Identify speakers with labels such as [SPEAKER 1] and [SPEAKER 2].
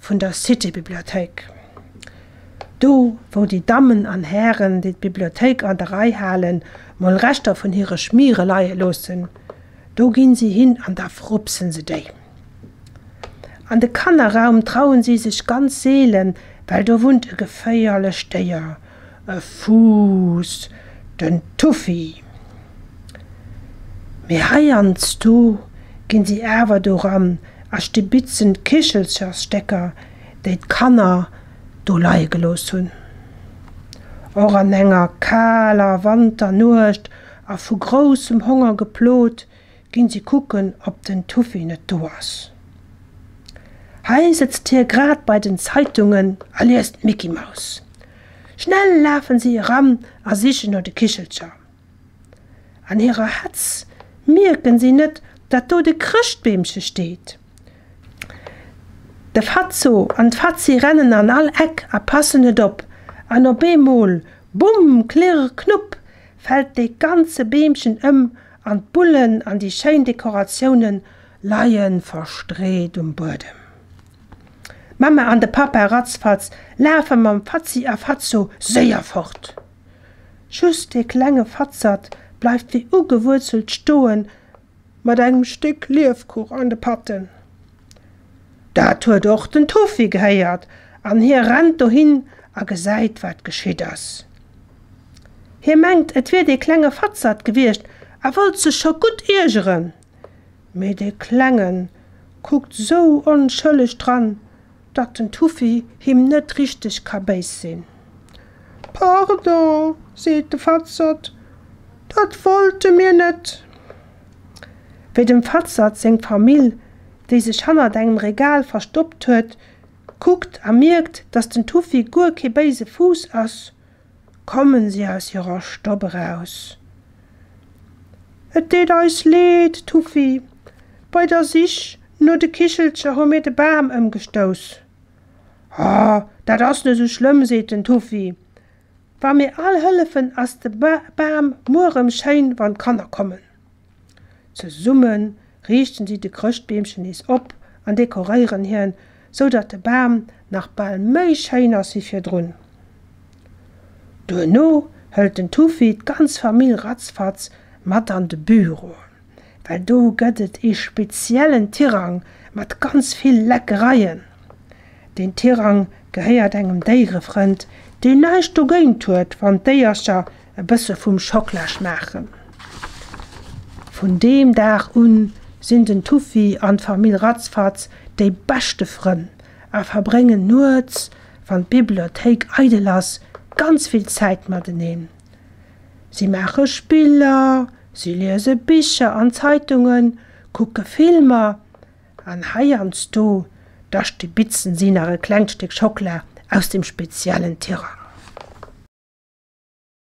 [SPEAKER 1] vun der Cité-Bibliothéik. Do, wou déi Dammen an Hären, déi d'Bibliothéik an der Rei halen, mol Reschter vun hire Schmiere leie loossen, do ginn si hin an da frupsen se déi. An de Kannerraum trauen si sech ganz seelen, well do wunnt e geféierlecht Déier, E Fuuss, den Tuffy. Mee heiansdo ginn si awer doran a stibitzen d'Kichelchersstécker, déi d'Kanner do leie gelooss hunn. Och an enger kaler Wanternuecht a vu groussem Honger geplot, Ginn si kucken op den Tuffy net do ass. Hei sëtzt hie grad bei den Zeitungen a liest d'Micky-Maus. Schnell lafen si eran a sichen no de Kichelcher. An hirer Hetz mierken si net dat do de Chrëschtbeemche steet. De Fatzo an d'Fatzi rennen an all Eck a passen net op an op eemol, Bumm, Klirr, Knupp, fält de ganze Beemchen ëm An d'Bullen an déi schéin Dekoratiounen leie verstreet um Buedem. D'Mamma an de Pappa ratzfatz lafe mam Fatzi a Fatzo séier fort. Just dee klenge Fatzert bleift wéi ugewuerzelt stoe mat engem Stéck Liefkuch an de Patten. Dat huet och den Toffi gehéiert an hie rennt dohin a gesäit, wat geschitt ass. Hie mengt, et wier dee klenge Fatzert gewiescht a wollt sech scho gutt iergeren, mee dee Klenge kuckt sou onschëlleg dran, datt den Toffi him net richteg ka béis sinn. Pardon, seet de Fatzert, dat wollte mir net. Wéi dem Fatzert seng Famill, déi sech hannert engem Regal verstoppt huet, kuckt a mierkt, dass den Tuffy guer kee béise Fuuss ass, kommen si aus hirer Stopp eraus. Et deet eis leed, Tuffy. Bei der Sich no de Kichelcher hu mir de Bam ëmgestouss. Oh, dat ass net esou schlëmm, seet den Tuffy. Wa mir all hëllefen ass de Bam muer rëm schéin wann d'Kanner kommen. Zesumme riichten si de Chrëschtbeemchen nees op an dekoréieren hien, sou datt de Bam nach bal méi schéin ass wéi virdrun. Duerno hëlt den Tufi d'ganz Famill ratzfatz mat an de Büro. well do gëtt et ee speziellen Tirang mat ganz vill Leckereien. Deen Tirang gehéiert engem Déierefrënd, deen näischt dogéint huet, wann d'Déiercher e bësse vum Schokla schmaachen. Vun deem Dag un sinn den Tuffy an d'Famill Ratzfatz déi beschte Frënn a verbréngen nuets, wann d'Bibliothéik eidel ass, ganz vill Zäit mateneen. Si maache Spiller, si liese Bicher an Zeitungen, kucke Filmer an heiansdo, da stibitzen si nach e klengt Stéck Schockela aus dem speziellen Tirang.